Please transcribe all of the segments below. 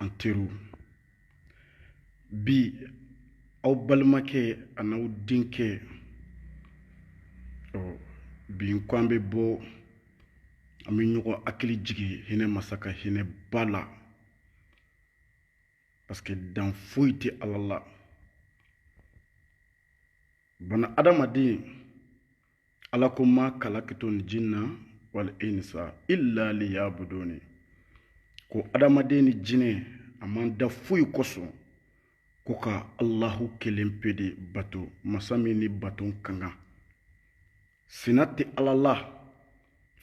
an teriw bi aw balimakɛ an'aw denkɛ ɔ bi n ko an bɛ bɔ an bɛ ɲɔgɔn hakili jigin hinɛ masa ka hinɛ ba la parce que dan foyi tɛ ala la bana adamaden ala ko ma kalakitul jinna wal insa illa liyabuduni ko adamaden ni jinɛ a m'an da foyi kosɔn ko ka alahu kelen pe de bato masa min ni bato ka kan sina tɛ ala la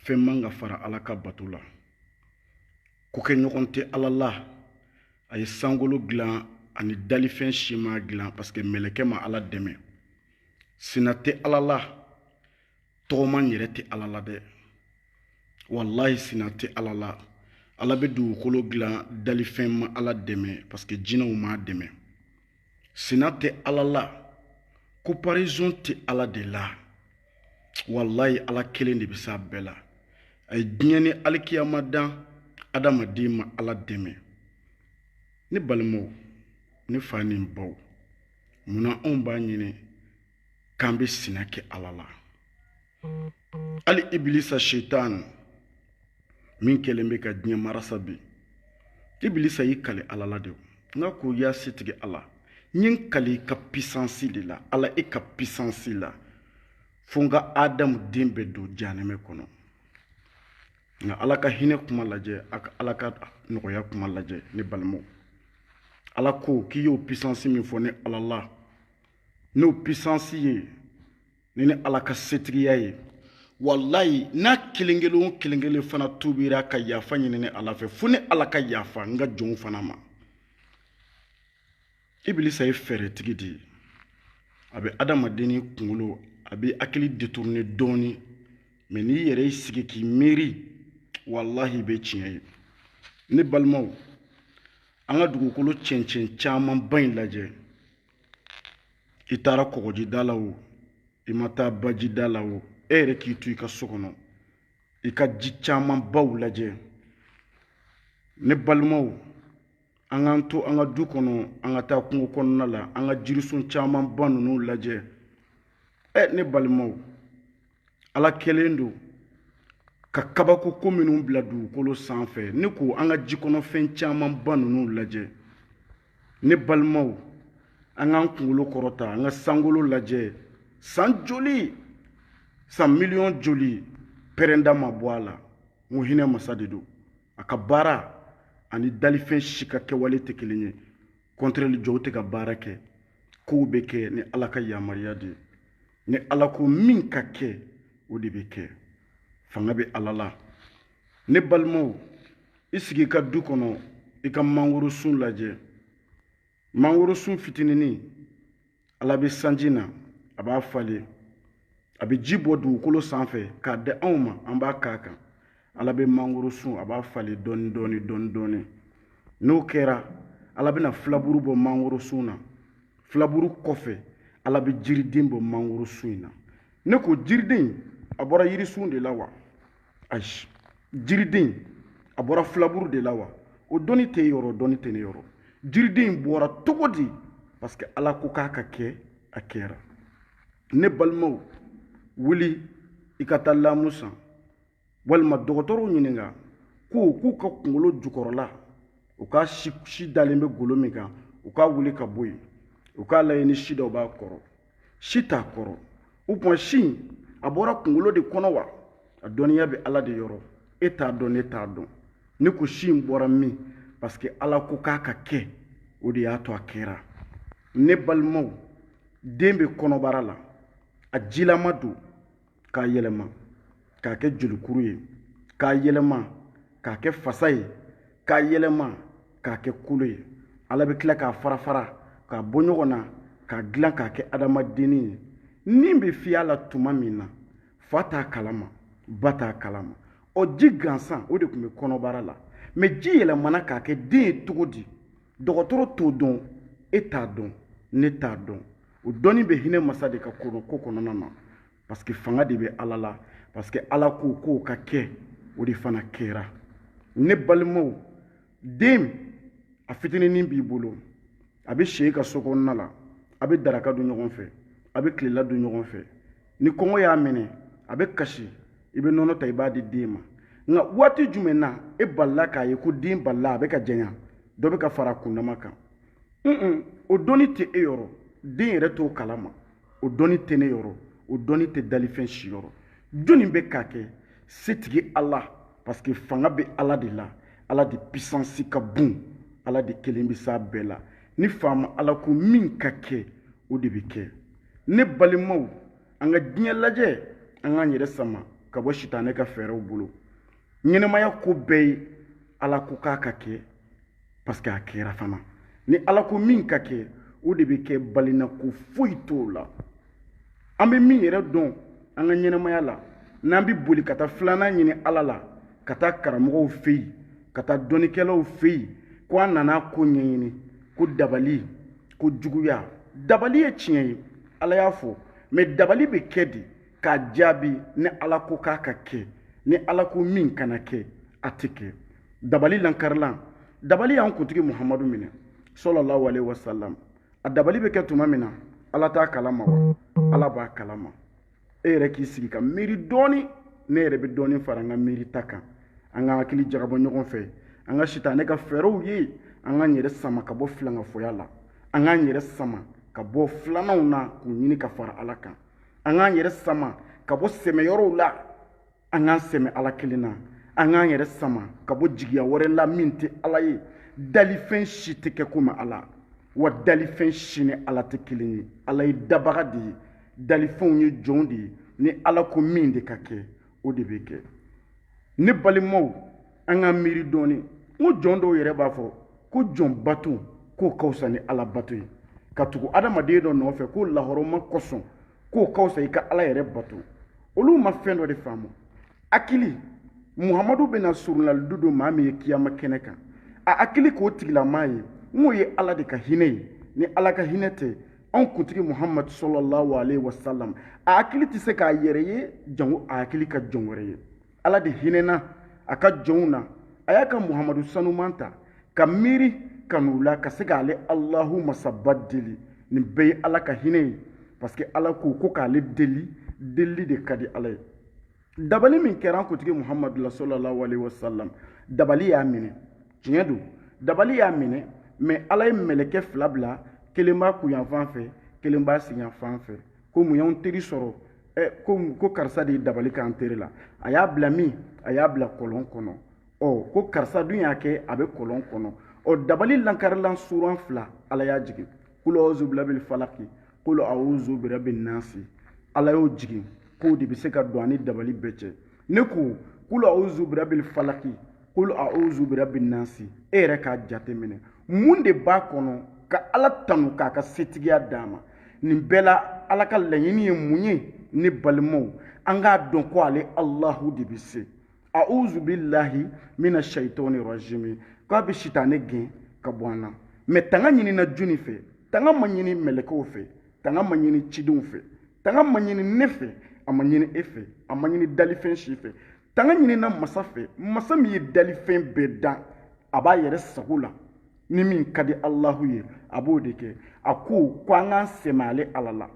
fɛn man ka fara ala ka bato la ko kɛ ɲɔgɔn tɛ ala la a ye sankolo dilan ani dalifɛn si m'a dilan parce que mɛlɛkɛ ma ala dɛmɛ sina tɛ ala la tɔgɔma yɛrɛ tɛ ala la dɛ walayi sina tɛ ala la ala bɛ dugukolo dilan dalifɛn ma ala dɛmɛ parce que jinɛw m'a dɛmɛ sina tɛ ala la comparaison tɛ ala de la walayi ala kelen de bɛ s'a bɛɛ la a ye diɲɛ ni alikiyama dan adamaden ma ala dɛmɛ ne balimaw ne fa ni n baw mun na anw b'a ɲini k'an bɛ sina kɛ ala la hali ibilisa setani min kɛlen bɛ ka diɲɛ marasa bi ibilisa y'i kali ala la de nka ko ya setigi ala n ye n kali i ka pisansi de la ala e ka pisansi la fo n ka adamu den bɛɛ don janɛmɛ kɔnɔ nka ala ka hinɛ kuma lajɛ an ka ala ka nɔgɔya kuma lajɛ ne balimaw ala ko k'i y'o pisansi min fɔ ne ala la n'o pisansi ye ni ne ala ka setigiya ye walayi n'a kelen kelen o kelen kelen fana tubira ka yafa ɲini ne ala fɛ fo ne ala ka yafa n ka jɔnw fana ma ibilisa ye fɛɛrɛtigi de ye a bɛ adamaden ni kunkolo a b'i hakili détourner dɔɔni mais n'i yɛrɛ y'i sigi k'i miiri walahi i bɛ tiɲɛ ye ne balimaw an ka dugukolo cɛncɛn camanba in lajɛ i taara kɔgɔjida la o i ma taa bajida la o e yɛrɛ k'i to i ka so kɔnɔ i ka ji camanbaw lajɛ ne balimaw an k'an to an ka du kɔnɔ an ka taa kungo kɔnɔna la an ka jirisun camanba ninnu lajɛ ɛ ne balimaw ala kɛlen don ka kabako ko minnu bila dugukolo sanfɛ ne ko an ka ji kɔnɔfɛn camanba ninnu lajɛ ne balimaw an k'an kunkolo kɔrɔta an ka sankolo lajɛ san joli san miliyɔn joli pɛrɛnda ma bɔ a la n ko hinɛ masa de don a ka baara ani dalifɛn si ka kɛwale tɛ kelen ye kɔntrɛli jɔw tɛ ka baara kɛ kow bɛ kɛ ni ala ka yamaruya de ye ni ala ko min ka kɛ o de bɛ kɛ fanga bɛ ala la ne balimaw i sigi i ka du kɔnɔ i ka mangoro sun lajɛ mangoro sun fitininin ala bɛ sanji na a b'a falen a bɛ ji bɔ dugukolo sanfɛ k'a di anw ma an b'a k'a kan ala bɛ mangoro sun a b'a falen dɔɔni dɔɔni dɔɔni dɔɔni n'o kɛra ala bɛna filaburu bɔ mangoro sun na filaburu kɔfɛ ala bɛ jiriden bɔ mangoro sun in na ne ko jiriden a bɔra yirisun de la wa ayi jiriden a bɔra filaburu de la wa o dɔnni t'e yɔrɔ dɔnni tɛ ne yɔrɔ jiriden bɔra cogo di parce que ala ko k'a ka kɛ a kɛra ne balimaw wuli i ka taa lamu san walima dɔgɔtɔrɔw ɲininka ko k'u ka kungolo jukɔrɔla u ka si dalen bɛ golo min kan u k'a wuli ka bɔ yen u k'a lajɛ ni si dɔw b'a kɔrɔ si t'a kɔrɔ o tuma si in a bɔra kunkolo de kɔnɔ wa a dɔnniya bɛ ala de yɔrɔ e t'a dɔn ne t'a dɔn ne ko si in bɔra min parce que ala ko k'a ka kɛ o de y'a to a kɛra ne balimaw den bɛ kɔnɔbara la a jilama don k'a yɛlɛma k'a kɛ jolikuru ye k'a yɛlɛma k'a kɛ fasa ye k'a yɛlɛma k'a kɛ kolo ye ala bɛ tila k'a fara fara k'a bɔ ɲɔgɔn na k'a dilan k'a kɛ adamadenni ye ni bɛ fiy'a la tuma min na fa t'a kalama ba t'a kalama o ji gansan o de tun bɛ kɔnɔbara la mɛ ji yɛlɛmana k'a kɛ den ye cogo di dɔgɔtɔrɔ t'o dɔn e t'a dɔn ne t'a dɔn o dɔnni bɛ hinɛ masa de ka ko kɔnɔna na parce que fanga de bɛ ala la parce que ala ko k'o ka kɛ o de fana kɛra ne balimaw den a fitininin b'i bolo a bɛ s'e ka so kɔnɔna la a bɛ daraka dun ɲɔgɔn fɛ a bɛ tilela dun ɲɔgɔn fɛ ni kɔngɔ y'a minɛ a bɛ kasi i bɛ nɔnɔ ta i b'a di den ma nka waati jumɛn na e balila k'a ye ko den balila a bɛ ka janya dɔ bɛ ka fara a kundama kan un o dɔnni tɛ e yɔrɔ den yɛrɛ t'o kalama o dɔnni tɛ ne yɔrɔ o dɔnni tɛ dalifɛn si yɔrɔ jɔnni bɛ k'a kɛ setigi ala parce que fanga bɛ ala de la ala de puissance ka bon ala de kelen bɛ s'a bɛɛ la ni faama ala ko min ka kɛ o de bɛ kɛ ne balimaw an ka diɲɛ lajɛ an k'an yɛrɛ sama ka bɔ sitanɛ ka fɛɛrɛw bolo ɲɛnamaya ko bɛɛ ye ala ko k'a ka kɛ parce que a kɛra fana ni ala ko min ka kɛ o de bɛ kɛ balina ko foyi t'o la an bɛ min yɛrɛ dɔn an ka ɲɛnamaya la n'an bɛ boli ka taa filanan ɲini ala la ka taa karamɔgɔw fɛ yen ka taa dɔnnikɛlaw fɛ yen ko an nana ko ɲɛɲini ko dabali ko juguya dabali ye tiɲɛ ye ala y'a fɔ mɛ dabali bɛ kɛ de k'a jaabi ni ala ko k'a ka kɛ ni ala ko min kana kɛ a tɛ kɛ dabali lankarilan dabali y'an kuntigi muhamadu minɛ sallallahu alaihi wasallam a dabali bɛ kɛ tuma min na ala t'a kalama wa ala b'a kalama e yɛrɛ k'i sigi ka miiri dɔɔni ne yɛrɛ bɛ dɔɔni fara an ka miiri ta kan an ka hakili jagabɔ ɲɔgɔn fɛ an ka sitanɛ ka fɛɛrɛw ye an k'an yɛrɛ sama ka bɔ filankafoya la an k'an yɛrɛ sama ka bɔ filananw na k'u ɲini ka fara ala kan an k'an yɛrɛ sama ka bɔ sɛmɛyɔrɔw la an k'an sɛmɛ ala kelen na an k'an yɛrɛ sama ka bɔ jigiya wɛrɛ la min tɛ ala ye dalifɛn si tɛ kɛ komi ala wa dalifɛn si ni ala tɛ kelen ye ala ye dabaga de ye dalifɛnw ye jɔnw de ye ni ala ko min de ka kɛ o de bɛ kɛ ne balimaw an ka miiri dɔɔni n ko jɔn dɔw yɛrɛ b'a fɔ ko jɔn bato k'o ka fisa ni ala bato ye ka tugu adamaden dɔ nɔfɛ k'o lahɔrɔma kosɔn k'o ka fisa i ka ala yɛrɛ bato olu ma fɛn dɔ de faamu hakili muhamadu bɛna surunalidu don maa min ye kiyama kɛnɛ kan a hakili k'o tigilamaa ye n k'o ye ala de ka hinɛ ye ni ala ka hinɛ tɛ anw kuntigi muhamadu sallallahu alaihi wasallam a hakili tɛ se k'a yɛrɛ ye jango a hakili ka jɔn wɛrɛ ye ala de hinɛna a ka jɔnw na a y'a ka muhamadu sanuman ta ka miiri ka n'u la ka se k'ale alahu masaba deli nin bɛɛ ye ala ka hinɛ ye parce que ala ko ko k'ale deli delili de ka di ala ye dabali min kɛra an kuntigi muhamadu la sallallahu alaihi wasallam dabali y'a minɛ tiɲɛ don dabali y'a minɛ mɛ ala ye mɛlɛkɛ fila bila kelen b'a kunyanfan fɛ kelen b'a senyanfan fɛ ko mun y'anw teri sɔrɔ ɛ ko ko karisa de ye dabali k'an teri la a y'a bila min a y'a bila kɔlɔn kɔnɔ ɔ ko karisa dun y'a kɛ a bɛ kɔlɔn kɔnɔ ɔ dabali lankarilan suran fila ala y'a jigin kulo awuzu birabil falaki kulo awuzu birabil nasi ala y'o jigin k'o de bɛ se ka don a ni dabali bɛɛ cɛ ne ko kulu auzu birabil falaki kulu auzu birabil nasi e yɛrɛ k'a jateminɛ mun de b'a kɔnɔ ka ala tanu k'a ka setigiya d'a ma nin bɛɛ la ala ka laɲini ye mun ye ne balimaw an k'a dɔn ko ale alahu de bɛ se auzu bilahi mina shaitani rajimi k'a bɛ sitanɛ gɛn ka bɔ an na mɛ tanga ɲinina jɔni fɛ tanga ma ɲini mɛlɛkɛw fɛ tanga ma ɲini cidenw fɛ tanga ma ɲini ne fɛ a ma ɲini e fɛ a ma ɲini dalifɛn si fɛ tanga ɲinina masa fɛ masa min ye dalifɛn bɛɛ dan a b'a yɛrɛ sago la ni min ka di alahu ye a b'o de kɛ a ko ko an k'an sɛmɛ ale ala la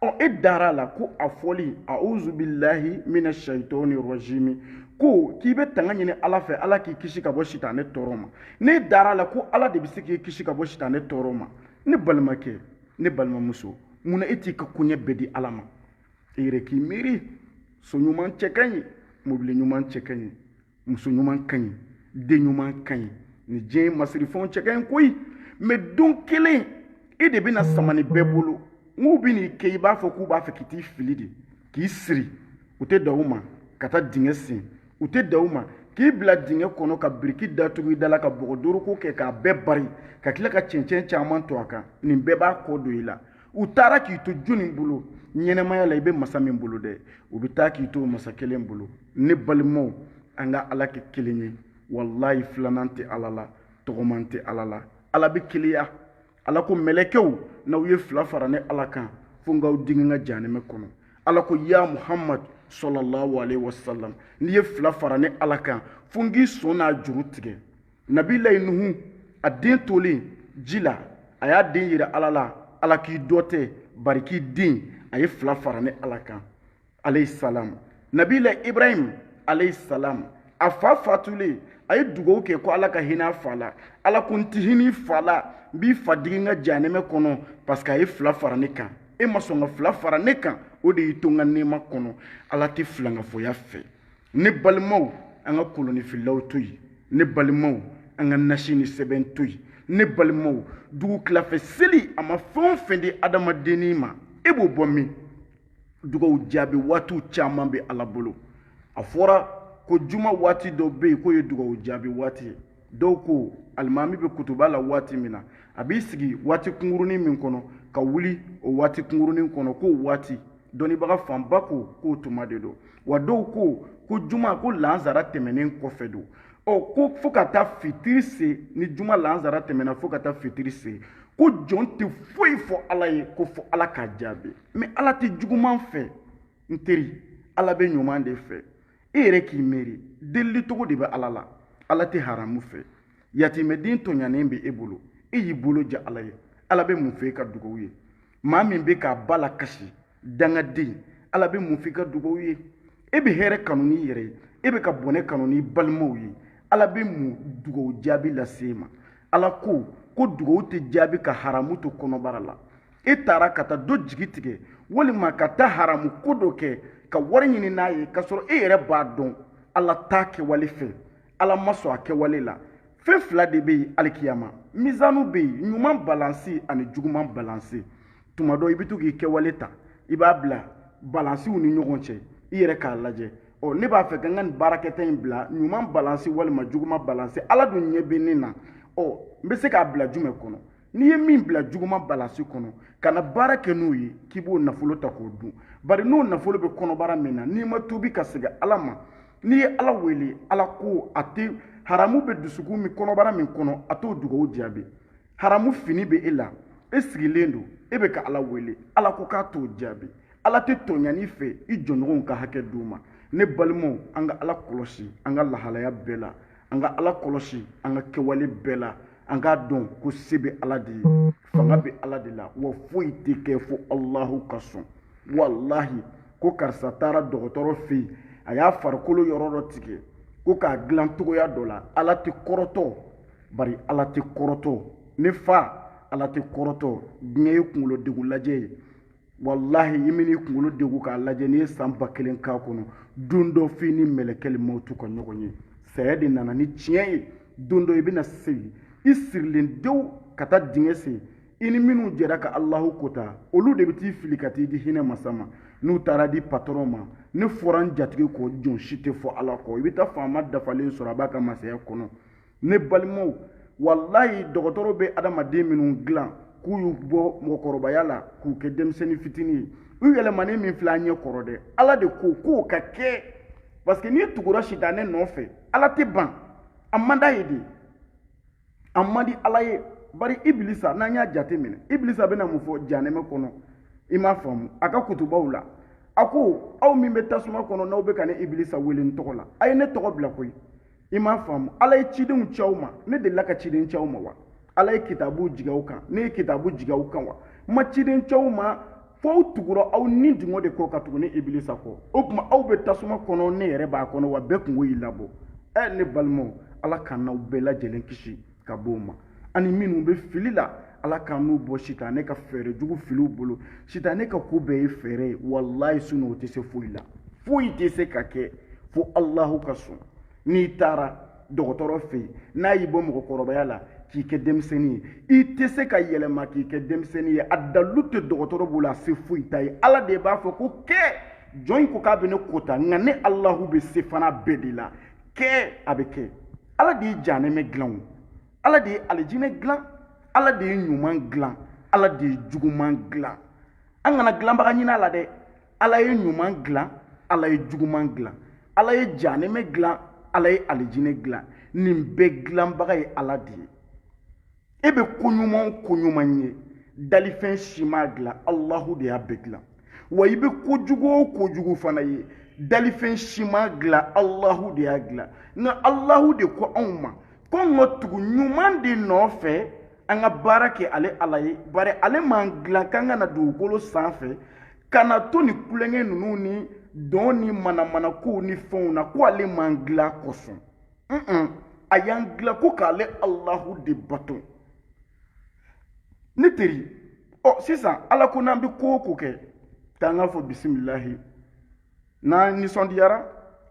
ɔ e dara a la ko a fɔli auzu bilahi mina shaitɔni rɔjimi ko k'i bɛ tanga ɲini ala fɛ ala k'i kisi ka bɔ sitanɛ tɔɔrɔ ma ne dara a la ko ala de bɛ se k'i kisi ka bɔ sitanɛ tɔɔrɔ ma ne balimakɛ ne balimamuso mun na e t'i ka koɲɛ bɛɛ di ala ma e yɛrɛ k'i miiri so ɲuman cɛ ka ɲi mobili ɲuman cɛ ka ɲi muso ɲuman ka ɲi den ɲuman ka ɲi ni diɲɛ masirifɛnw cɛ ka ɲi koyi mais don kelen e de bɛna sama nin bɛɛ bolo n'u bɛ n'i kɛ i b'a fɔ k'u b'a fɛ k'i t'i fili de k'i siri u tɛ dan o ma ka taa dingɛ sen u tɛ dan o ma k'i bila dingɛ kɔnɔ ka biriki datugu i da la ka bɔgɔdoroko kɛ k'a bɛɛ bari ka tila ka cɛncɛn caman to a kan nin bɛɛ b'a kɔ don i la u taara k'i to jɔni bolo ɲɛnamaya la i bɛ masa min bolo dɛ u bɛ taa k'i to masa kelen bolo ne balimaw an ka ala kɛ kelen ye walayi filanan tɛ ala la tɔgɔman tɛ ala la ala bɛ keleya ala ko mɛlɛkɛw n'aw ye fila fara ne ala kan fo n k'aw digi n ka jahanɛmɛ kɔnɔ ala ko ya muhamad sallallahu alayhi wa sallam n'i ye fila fara ne ala kan fo n k'i sɔn n'a juru tigɛ nabilayi nuhu a den tolen ji la a y'a den yira ala la ala k'i dɔ tɛ bari k'i den a ye fila fara ne ala kan alayhi salam nabila ibrahim alayhi salam a fa fatulen a ye dugawu kɛ ko ala ka hinɛ a fa la ala ko n ti hinɛ i fa la n b'i fa digi n ka janɛmɛ kɔnɔ parce que a ye fila fara ne kan e ma sɔn ka fila fara ne kan o de y'i to n ka nɛɛma kɔnɔ ala tɛ filankafoya fɛ ne balimaw an ka kolonifilaw to yen ne balimaw an ka nasi ni sɛbɛn to yen ne balimaw dugu tilafɛ seli a ma fɛn o fɛn di adamadennin ma e b'o bɔ min dugaw jaabi waatiw caman bɛ ala bolo a fɔra ko juma waati dɔ bɛ yen k'o ye dugaw jaabi waati ye dɔw ko alimami bɛ kutuba la waati min na a b'i sigi waati kunkurunin min kɔnɔ ka wuli o waati kunkurunin kɔnɔ k'o waati dɔnnibaga fanba ko k'o tuma de don wa dɔw ko ko juma ko lansara tɛmɛnen kɔfɛ don ɔ ko fo ka taa fitiri se ni juma lansara tɛmɛna fo ka taa fitiri se ko jɔn tɛ foyi fɔ ala ye ko fo ala k'a jaabi mais ala tɛ juguman fɛ n teri ala bɛ ɲuman de fɛ e yɛrɛ k'i miiri delili cogo de bɛ ala la ala tɛ haramu fɛ yatimɛden tɔɲanen bɛ e bolo e y'i bolo ja ala ye ala bɛ mun fɛ i ka dugawu ye maa min bɛ k'a ba lakasi dangaden ala bɛ mun fɛ i ka dugawu ye e bɛ hɛrɛ kanu n'i yɛrɛ ye e bɛ ka bɔnɛ kanu n'i balimaw ye ala bɛ mun dugawu jaabi lase e ma ala ko ko dugawu tɛ jaabi ka haramu to kɔnɔbara la e taara ka taa dɔ jigi tigɛ walima ka taa haramu ko dɔ kɛ ka wari ɲini n'a ye k'a sɔrɔ e yɛrɛ b'a dɔn ala t'a kɛwale fɛ ala ma sɔn a kɛwale la fɛn fila de bɛ yen alikiyama mizanu bɛ yen ɲuman balansi ani juguman balansi tuma dɔ i bɛ to k'i kɛwale ta i b'a bila balansiw ni ɲɔgɔn cɛ i yɛrɛ k'a lajɛ ɔ ne b'a fɛ ka n ka nin baarakɛta in bila ɲuman balansi walima juguman balansi ala dun ɲɛ bɛ ne na ɔ n bɛ se k'a bila jumɛn kɔnɔ n'i ye min bila juguman balansi kɔnɔ kana baara kɛ n'o ye k'i b'o nafolo ta k'o dun bari n'o nafolo bɛ kɔnɔbara min na n'i ma tuubi ka segin ala ma n'i ye ala wele ala ko a tɛ haramu bɛ dusukun min kɔnɔbara min kɔnɔ a t'o dugawu jaabi haramu fini bɛ e la e sigilen don e bɛ ka ala wele ala ko k'a t'o jaabi ala tɛ tɔɲani fɛ i jɔnɲɔgɔnw ka hakɛ d'u ma ne balimaw an ka ala kɔlɔsi an ka lahalaya bɛɛ la an ka ala kɔlɔsi an ka kɛwale bɛɛ la an k'a dɔn ko se bɛ ala de ye fanga bɛ ala de la wa foyi tɛ kɛ fo alahu ka sɔn walahi ko karisa taara dɔgɔtɔrɔ fɛ yen a y'a farikolo yɔrɔ dɔ tigɛ ko k'a dilan cogoya dɔ la ala tɛ kɔrɔtɔ bari ala tɛ kɔrɔtɔ ne fa ala tɛ kɔrɔtɔ diɲɛ ye kunkolo degun lajɛ ye walahi i bɛn'i kunkolo degu k'a lajɛ n'i ye san ba kelen k'a kɔnɔ don dɔ f'i ni mɛlɛkɛli mawutu ka ɲɔgɔn ye saya de nana ni tiɲɛ ye don dɔ i bɛna segin i sirilen dewu ka taa dingɛ sen i ni minnu jɛra ka alahu kota olu de bɛ t'i fili ka t'i di hinɛ masa ma n'u taara di patɔrɔn ma ne fɔra n jatigi kɔ jɔn si tɛ fɔ ala kɔ i bɛ taa faama dafalen sɔrɔ a b'a ka masaya kɔnɔ ne balimaw walayi dɔgɔtɔrɔ bɛ adamaden minnu dilan k'u y'u bɔ mɔgɔkɔrɔbaya la k'u kɛ denmisɛnnin fitinin ye u yɛlɛmanen min filɛ an ɲɛ kɔrɔ dɛ ala de ko k'o ka kɛ parce que n'i tugura sitanɛ nɔfɛ ala tɛ ban a man d'a ye de a man di ala ye bari ibilisa n'an y'a jate minɛ ibilisa bɛna mun fɔ janɛmɛ kɔnɔ i m'a faamu a ka kutubaw la a ko aw min bɛ tasuma kɔnɔ n'aw bɛ ka ne ibilisa wele n tɔgɔ la a ye ne tɔgɔ bila koyi i m'a faamu ala ye cidenw ci aw ma ne delila ka ciden ci aw ma wa ala ye kitabu jigin aw kan ne ye kitabu jigin aw kan wa n ma ciden ci aw ma fo aw tugura aw ni dungɔ de kɔ ka tugu ne ibilisa kɔ o tuma aw bɛ tasuma kɔnɔ ne yɛrɛ b'a kɔnɔ wa bɛɛ kunko y'i labɔ ɛ ne balimaw ala k'an n'aw bɛɛ lajɛlen kisi ka bɔ o ma ani minnu bɛ fili la ala k'an n'u bɔ sitanɛ ka fɛɛrɛ jugu filiw bolo sitanɛ ka ko bɛɛ ye fɛɛrɛ ye walayi sinon o tɛ se foyi la foyi tɛ se ka kɛ fo alahu ka sɔn n'i taara dɔgɔtɔrɔ fɛ yen n'a y'i bɔ mɔgɔkɔrɔbaya la k'i kɛ denmisɛnnin ye i tɛ se ka yɛlɛma k'i kɛ denmisɛnnin ye a dalilu tɛ dɔgɔtɔrɔ bolo a se foyi t'a ye ala de b'a fɔ ko kɛ jɔn in ko k'a bɛ ne kota nka ne alahu bɛ se fana bɛɛ de la kɛ a bɛ kɛ ala de ye janɛmɛ dilan o ala de ye alijinɛ dilan ala de ye ɲuman dilan ala de ye juguman dilan an kana dilanbaga ɲini a la dɛ ala ye ɲuman dilan ala ye juguman dilan ala ye janɛmɛ dilan ala ye alijinɛ dilan nin bɛɛ dilanbaga ye ala de ye e bɛ ko ɲuman o ko ɲuman ye dalifɛn si m'a dilan alahu de y'a bɛɛ dilan wa i bɛ kojugu o kojugu fana ye dalifɛn si m'a dilan alahu de y'a dilan nka alahu de ko anw ma ko an ka tugu ɲuman de nɔfɛ an ka baara kɛ ale ala ye bari ale m'an dilan k'an ka na dugukolo sanfɛ ka na to nin kulonkɛ ninnu ni dɔn ni manamanakow ni fɛnw na ko ale m'an dilan kosɔn a y'an dilan ko k'ale alahu de bato ne teri ɔ sisan ala ko n'an bɛ ko o ko kɛ k'an k'a fɔ bisimilahi n'an nisɔndiyara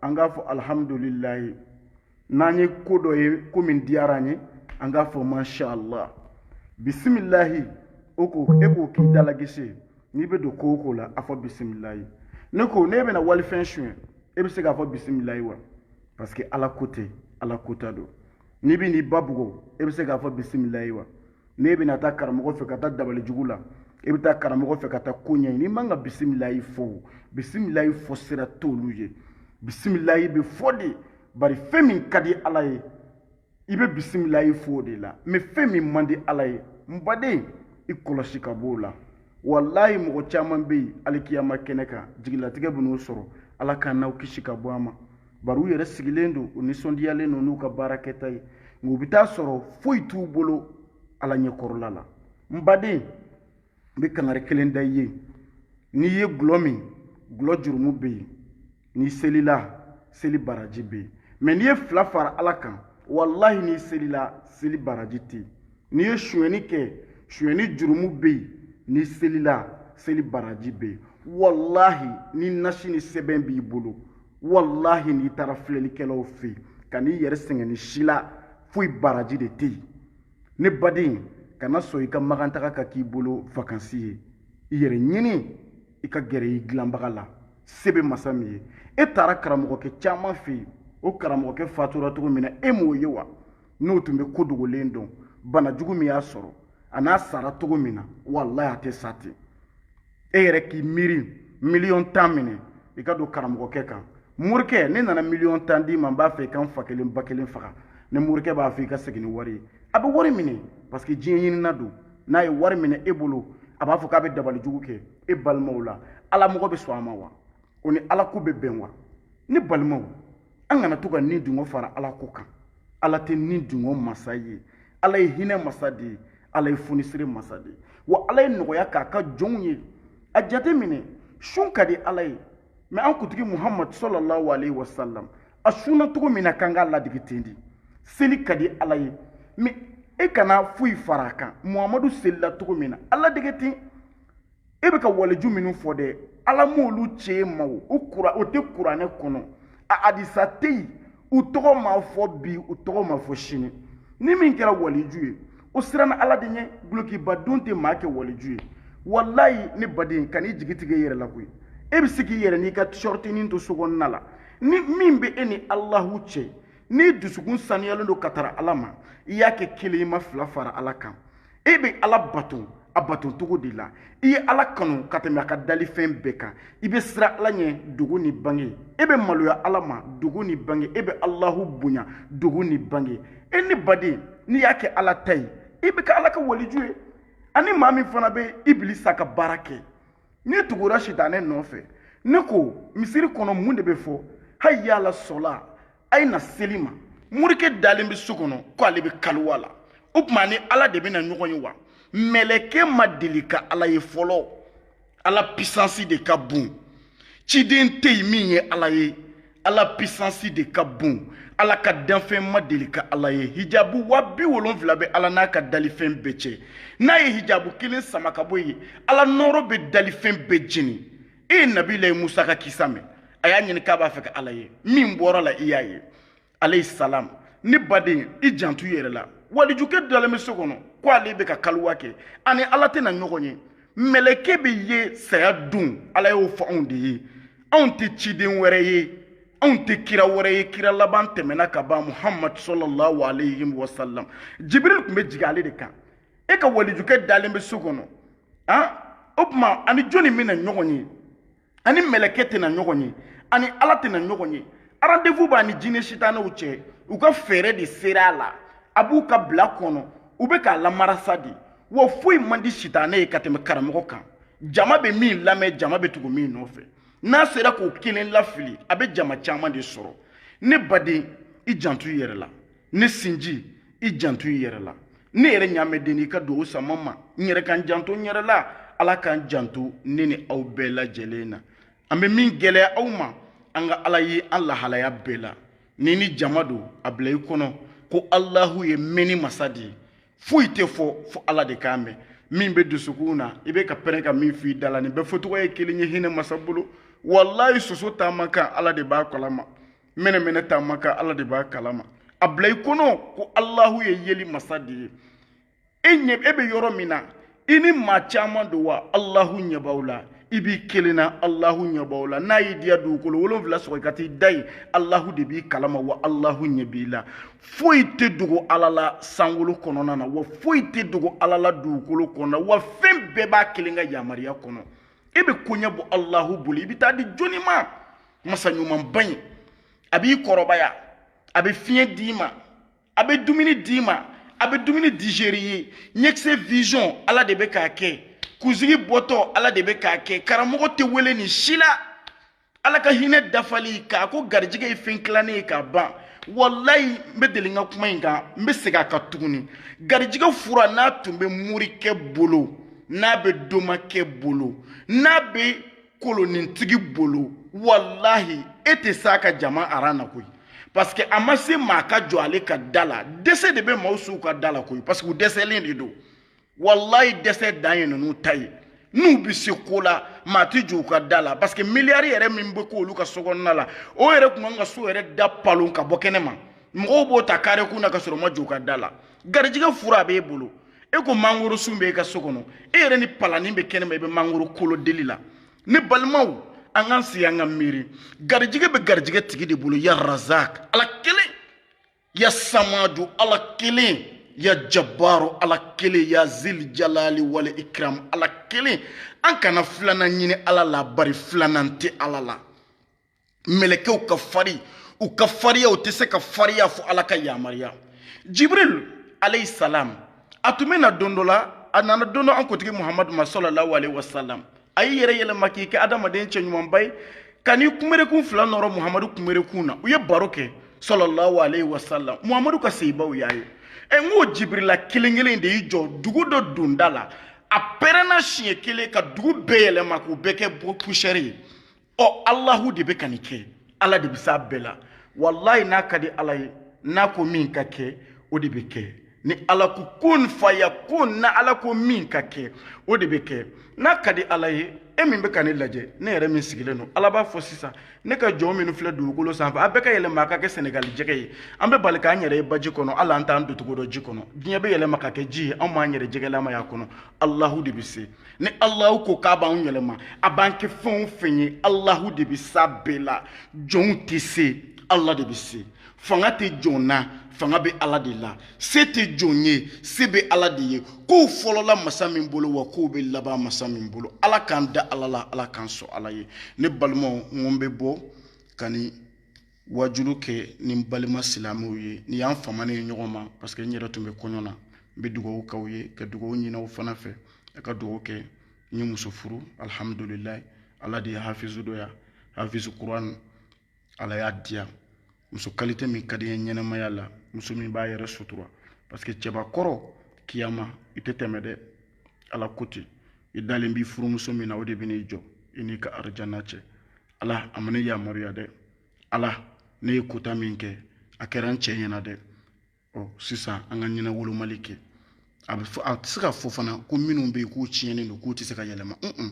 an k'a fɔ alihamudulilayi n'an ye ko dɔ ye ko min diyara an ye an k'a fɔ mashallah bisimilahi o ko e k'o k'i dalagese n'i bɛ don ko o ko la a fɔ bisimilayi ne ko ne bɛna walifɛn suɲɛ e bɛ se k'a fɔ bisimilayi wa parce que ala ko tɛ ala kota don n'i bɛn'i ba bugɔ e bɛ se k'a fɔ bisimilayi wa n'e bɛna taa karamɔgɔ fɛ ka taa dabali jugu la e bɛ taa karamɔgɔ fɛ ka taa ko ɲɛɲini i man ka bisimilayi fɔ o bisimilayi fɔ sira t'olu ye bisimilayi bɛ fɔ de bari fɛn min ka di ala ye i bɛ bisimilayi fɔ o de la mɛ fɛn min man di ala ye n baden i kɔlɔsi ka b'o la walayi mɔgɔ caman bɛ yen alikiyama kɛnɛ kan jigilatigɛ bɛn'u sɔrɔ ala k'an n'aw kisi ka bɔ a ma bari u yɛrɛ sigilen don u nisɔndiyalen don n'u ka baara kɛta ye nka u bɛ taa sɔrɔ foyi t'u bolo ala ɲɛkɔrɔla la n baden n bɛ kangari kelen da i ye n'i ye gulɔ min gulɔ jurumu bɛ yen n'i selila seli baraji bɛ yen mɛ n'i ye fila fara ala kan walahi n'i selila seli baraji tɛ yen n'i ye sonyɛni kɛ sonyɛni jurumu bɛ yen n'i selila seli baraji bɛ yen walahi ni nasi ni sɛbɛn b'i bolo walahi n'i taara filɛlikɛlaw fɛ yen kan'i yɛrɛ sɛgɛn n'i selila foyi baraji de tɛ yen ne baden kana sɔn i ka makantaga ka k'i bolo vakansi ye i yɛrɛ ɲini i ka gɛrɛ i dilanbaga la se bɛ masa min ye e taara karamɔgɔkɛ caman fɛ yen o karamɔgɔkɛ fatura cogo min na e m'o ye wa n'o tun bɛ ko dogolen dɔn bana jugu min y'a sɔrɔ a n'a sara cogo min na walayi a tɛ sa ten e yɛrɛ k'i miiri miliyɔn tan minɛ i ka don karamɔgɔkɛ kan morikɛ ne nana miliyɔn tan d'i ma n b'a fɛ i ka n fa kelen ba kelen faga n ye morikɛ b'a fɔ i ka segin ni wari ye a bɛ wari minɛ parce que diɲɛ ɲinina don n'a ye wari minɛ e bolo a b'a fɔ k'a bɛ dabali jugu kɛ e balimaw la ala mɔgɔ bɛ sɔn a ma wa o ni ala ko bɛ bɛn wa ne balimaw an kana to ka ni dungo fara ala ko kan ala tɛ ni dungo masa ye ala ye hinɛ masa de ye ala ye funisire masa de ye wa ala ye nɔgɔya k'a ka jɔnw ye a jate minɛ sun ka di ala ye mɛ an kutigi muhamadu sɔlɔlahu alayhi wa salam a sunna cogo min na k'an k'a ladege ten de seli ka di ala ye mɛ e kana foyi fara a kan muhamadu selila cogo min na a ladege ten e bɛ ka waliju minnu fɔ dɛ ala m'olu ci an ma o tɛ kuranɛ kɔnɔ a hadisa tɛ yen u tɔgɔ ma fɔ bi u tɔgɔ ma fɔ sini ni min kɛra waliju ye o siranna ala de ɲɛ gulokibadon tɛ maa kɛ waliju ye walayi ne baden kan'i jigi tigɛ i yɛrɛ la koyi e bɛ se k'i yɛrɛ n'i ka sɔrɔtinin to so kɔnɔna la ni min bɛ e ni alahu cɛ n'i dusukun saniyalen don ka tara ala ma i y'a kɛ kelen i ma fila fara ala kan e bɛ ala bato a bato cogo de la i ye ala kanu ka tɛmɛ a ka dalifɛn bɛɛ kan i bɛ siran ala ɲɛ dogo ni bange e bɛ maloya ala ma dogo ni bange e bɛ alahu bonya dogo ni bange e ne baden n'i y'a kɛ ala ta ye i bɛ kɛ ala ka waliju ye ani maa min fana bɛ ibilisa ka baara kɛ n'i tugura sitanɛ nɔfɛ ne ko misiri kɔnɔ mun de bɛ fɔ hayi yala sɔla a ye na seli ma morikɛ dalen bɛ so kɔnɔ ko ale bɛ kaliwa la o tuma a ni ala de bɛna ɲɔgɔn ye wa mɛlɛkɛ ma deli ka ala ye fɔlɔ ala pisansi de ka bon ciden tɛ yen min ye ala ye ala pisansi de ka bon ala ka danfɛn ma deli ka ala ye hijabu wa bi wolonfila bɛ ala n'a ka dalifɛn bɛɛ cɛ n'a ye hijabu kelen sama ka bɔ yen ala nɔɔrɔ bɛ dalifɛn bɛɛ jeni e ye nabilayi musa ka kisa mɛn a y'a ɲini k'a b'a fɛ ka ala ye min bɔra a la i y'a ye alayhi salam ne baden i janto i yɛrɛ la walijukɛ dalen bɛ so kɔnɔ ko ale bɛ ka kaliwa kɛ a ni ala tɛna ɲɔgɔn ye mɛlɛkɛ bɛ ye saya don ala y'o fɔ anw de ye anw tɛ ciden wɛrɛ ye anw tɛ kira wɛrɛ ye kira laban tɛmɛna ka ban muhamadu sɔlɔlahu alayhi wa salam jibiril tun bɛ jigin ale de kan e ka walijukɛ dalen bɛ so kɔnɔ han o tuma a ni jɔni bɛna ɲɔgɔn ye a ni mɛlɛkɛ tɛna ɲɔgɔn ye a ni ala tɛna ɲɔgɔn ye rendez-vous b'a ni jinɛ sitanɛw cɛ u ka fɛɛrɛ de sera a la a b'u ka bila kɔnɔ u bɛ k'a lamarasa de wa foyi man di sitanɛ ye ka tɛmɛ karamɔgɔ kan jama bɛ min lamɛn jama bɛ tugu min nɔfɛ n'a sera k'o kelen lafili a bɛ jama caman de sɔrɔ ne baden i janto i yɛrɛ la ne sinji i janto i yɛrɛ la ne yɛrɛ ɲaamɛden i ka dugawu sama ma n yɛrɛ ka n janto n yɛrɛ la ala k'an janto ne ni aw bɛɛ lajɛlen na an bɛ min gɛlɛya aw ma an ka ala ye an lahalaya bɛɛ la ni ni jama don a bila i kɔnɔ ko alahu ye mɛnni masa de ye foyi tɛ fɔ fo ala de k'a mɛn min bɛ dusukun na i bɛ ka pɛrɛn ka min f'i da la nin bɛɛ fɔcogo ye kelen ye hinɛ masa bolo walayi soso taama kan ala de b'a kalama mɛnɛmɛnɛ taama kan ala de b'a kalama a bila i kɔnɔ ko alahu ye yeli masa de ye e bɛ yɔrɔ min na i ni maa caman don wa alahu ɲɛ b'aw la i b'i kelen na alahu ɲɛ b'aw la n'a y'i diya dugukolo wolonfila sɔgɔ i ka t'i da yen alahu de b'i kalama wa alahu ɲɛ b'i la foyi tɛ dogo ala la sankolo kɔnɔna na wa foyi tɛ dogo ala la dugukolo kɔnɔna wa fɛn bɛɛ b'a kelen ka yamaruya kɔnɔ e bɛ koɲɛ bɔ alahu bolo i bɛ taa di jɔnni ma masa ɲumanba in a b'i kɔrɔbaya a bɛ fiɲɛ d'i ma a bɛ dumuni d'i ma a bɛ dumuni digérer i ye ɲɛkisɛ vision ala de bɛ k'a kɛ kunsigi bɔtɔ ala de bɛ k'a kɛ karamɔgɔ tɛ wele nin si la ala ka hinɛ dafali k'a ko garijɛgɛ ye fɛn tilannen ye k'a ban walayi n bɛ deli ka kuma in kan n bɛ segin a kan tuguni garijɛgɛ fura n'a tun bɛ morikɛ bolo n'a bɛ domakɛ bolo n'a bɛ kolonintigi bolo walahi e tɛ s'a ka jama aran na koyi parce que a ma se maa ka jɔ ale ka da la dɛsɛ de bɛ maaw s'u ka da la koyi parce que u dɛsɛlen de don walayi dɛsɛ dan ye ninnu ta ye n'u bɛ se ko la maa tɛ jɔ u ka da la parce que miliyari yɛrɛ min bɛ k'olu ka so kɔnɔna la o yɛrɛ tun kan ka so yɛrɛ da palon ka bɔ kɛnɛ ma mɔgɔw b'o ta kare kun na ka sɔrɔ u ma jɔ u ka da la garijɛgɛ fura a b'e bolo e ko mangoro sun bɛ e ka so kɔnɔ e yɛrɛ ni palanin bɛ kɛnɛma i bɛ mangoro kolo deli la ne balimaw an k'an sigi an ka miiri garijɛgɛ bɛ garijɛgɛ tigi de bolo ya razak ala kelen ya samadu ala kelen ya jabaru ala kelen ya zil jalali wal ikram ala kelen an kana filanan ɲini ala la bari filanan tɛ ala la mɛlɛkɛw ka fari u ka fariya u tɛ se ka fariya fo ala ka yamaruya jibril alayhi salam a tun bɛ na don dɔ la a nana don dɔ an kuntigi muhamadu ma salalahu alayhi wa salam a y'i yɛrɛ yɛlɛma k'i kɛ adamaden cɛ ɲumanba ye ka n'i kunberekun fila nɔrɔ muhamadu kunberekun na u ye baro kɛ salalahu alayhi wa salam muhamadu ka sahabaw y'a ye ɛ n ko jibirila kelen kelen de y'i jɔ dugu dɔ donda la a pɛrɛnna siɲɛ kelen ka dugu bɛɛ yɛlɛma k'u bɛɛ kɛ poussière ye ɔ alahu de bɛ ka nin kɛ ala de bɛ s'a bɛɛ la walayi n'a ka di ala ye n'a ko min ka kɛ o de bɛ kɛ ni ala ko kun fayakun na ala ko min ka kɛ o de bɛ kɛ n'a ka di ala ye e min bɛ ka ne lajɛ ne yɛrɛ min sigilen don ala b'a fɔ sisan ne ka jɔn minnu filɛ dugukolo sanfɛ a bɛɛ ka yɛlɛma a ka kɛ sɛnɛgali jɛgɛ ye an bɛ bali k'an yɛrɛ ye baji kɔnɔ ala an t'an doncogo dɔn ji kɔnɔ diɲɛ bɛ yɛlɛma ka kɛ ji ye anw b'an yɛrɛ jɛgɛlama y'a kɔnɔ alahu de bɛ se ni alahu ko k'a b'anw yɛlɛma a b'an kɛ fɛn o fɛn ye alahu de bɛ s'a bɛɛ la jɔnw tɛ se ala de bɛ se fanga tɛ jɔn na fanga bɛ ala de la se tɛ jɔn ye se bɛ ala de ye kow fɔlɔla masa min bolo wa kow bɛ laban masa min bolo ala k'an da ala la ala k'an sɔn ala ye ne balimaw n ko n bɛ bɔ ka nin wajulu kɛ ni n balima silamɛw ye nin y'an famanen ye ɲɔgɔn ma parce que n yɛrɛ tun bɛ kɔɲɔ na n bɛ dugawu k'aw ye ka dugawu ɲin'aw fana fɛ a ka dugawu kɛ n ye muso furu alihamudulilayi ala de ye hafizu dɔ ya hafizu kuran ala y'a diya muso kalite min ka di n ye ɲɛnɛmaya la muso min b'a yɛrɛ sutura parce que cɛbakɔrɔ kiyama i tɛ tɛmɛ dɛ ala ko ten i dalen b'i furumuso min na o de bɛ n'i jɔ i n'i ka arijana cɛ ala a ma ne yamaruya dɛ ala ne ye kota min kɛ a kɛra n cɛ ɲɛna dɛ ɔ sisan an ka ɲɛnawolomali kɛ a bɛ fɔ a tɛ se ka fɔ fana ko minnu bɛ yen k'u tiɲɛnen don k'u tɛ se ka yɛlɛma un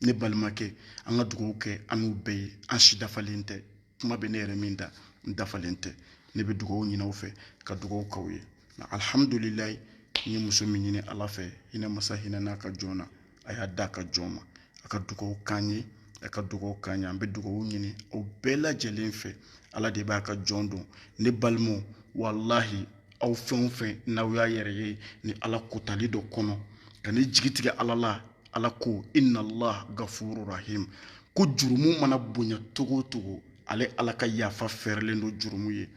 ne balimakɛ an ka dugawu kɛ an n'u bɛɛ ye an si dafalen tɛ kuma bɛ ne yɛrɛ min da n dafalen tɛ ne bɛ dugawu ɲini aw fɛ ka dugawu k'aw ye nka alihamudulilayi n ye muso min ɲini ala fɛ hinɛ masa hinɛn'a ka jɔn na a y'a d'a ka jɔn ma a ka dugawu k'an ye a ka dugawu k'an ye an bɛ dugawu ɲini aw bɛɛ lajɛlen fɛ ala de b'a ka jɔn dɔn ne balimaw walahi aw fɛn o fɛn n'aw y'a yɛrɛ ye ni ala kotali dɔ kɔnɔ kan'i jigi tigɛ ala la ala ko inna allah gafuru rahim ko jurumu mana bonya cogo o cogo ale ala ka yafa fɛrɛlen don jurumu ye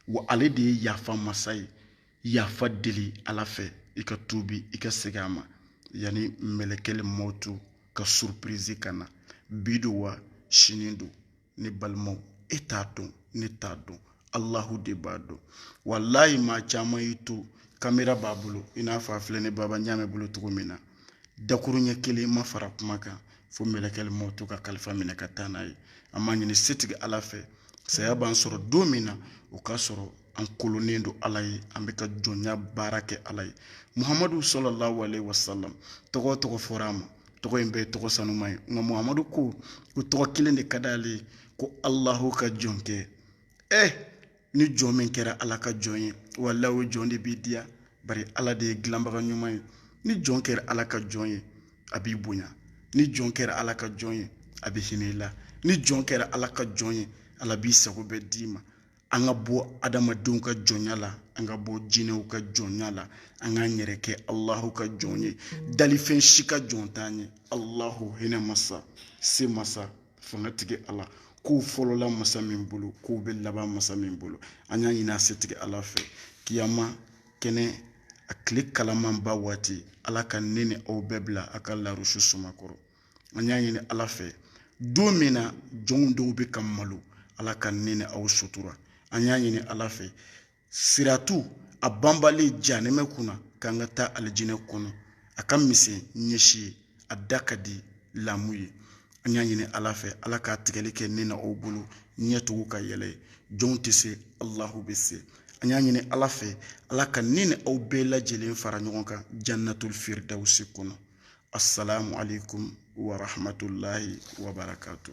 wa ale de ye yafa masa ye yafa deli ala fɛ i ka tuubi i ka segin a ma yanni mɛlɛkɛli mɔtu ka surpirizi ka na bi don wa sini don ne balimaw e t'a dɔn ne t'a dɔn alahu de b'a dɔn walayi maa caman y'i to kamera b'a bolo i n'a fɔ a filɛ ne baba ɲaamɛ bolo cogo min na dakuruɲɛ kelen ma fara kuma kan fo mɛlɛkɛli mɔtu ka kalifa minɛ ka taa n'a ye an b'a ɲini setigi ala fɛ saya b'an sɔrɔ don min na o k'a sɔrɔ an kolonnen don ala ye an bɛ ka jɔnya baara kɛ ala ye muhamadu sallallahu alaihi wasallam tɔgɔ o tɔgɔ fɔra a ma tɔgɔ in bɛɛ ye tɔgɔ sanuma ye nka muhamadu ko ko tɔgɔ kelen de ka d'ale ye ko alahu ka jɔnkɛ ɛ eh, ni jɔn min kɛra ala ka jɔn ye walayi o jɔn de b'i diya bari ala de ye dilanbaga ɲuman ye ni jɔn kɛra ala ka jɔn ye a b'i bonya ni jɔn kɛra ala ka jɔn ye a bɛ hinɛ i la ni jɔn kɛra ala ka jɔn ye ala b'i sago bɛɛ d'i ma an ka bɔ adamadenw ka jɔnya la an ka bɔ jinɛw ka jɔnya la an k'an yɛrɛ kɛ alahu ka jɔn ye dalifɛn si ka jɔn t'an ye alahu hinɛ masa se masa fangatigi ala kow fɔlɔla masa min bolo kow bɛ laban masa min bolo an y'a ɲini a setigi ala fɛ kiyama kɛnɛ a tile kalamanba waati ala ka ne ni aw bɛɛ bila a ka larusi suma kɔrɔ an y'a ɲini ala fɛ don min na jɔnw dɔw bɛ ka malo ala ka ne ni aw sutura an y'a ɲini ala fɛ siratu a banbalen janɛmɛ kunna k'an ka taa alijinɛ kɔnɔ a ka misɛn ɲɛsi ye a da ka di lamu ye an y'a ɲini ala fɛ ala k'a tigɛli kɛ ne ni aw bolo ɲɛ tugu k'a yɛlɛ ye jɔnw tɛ se alahu bɛ se an y'a ɲini ala fɛ ala ka ne ni aw bɛɛ lajɛlen fara ɲɔgɔn kan jannatul firdawusi kɔnɔ asalaamualeykum wa rahmatulahi wa barakatu.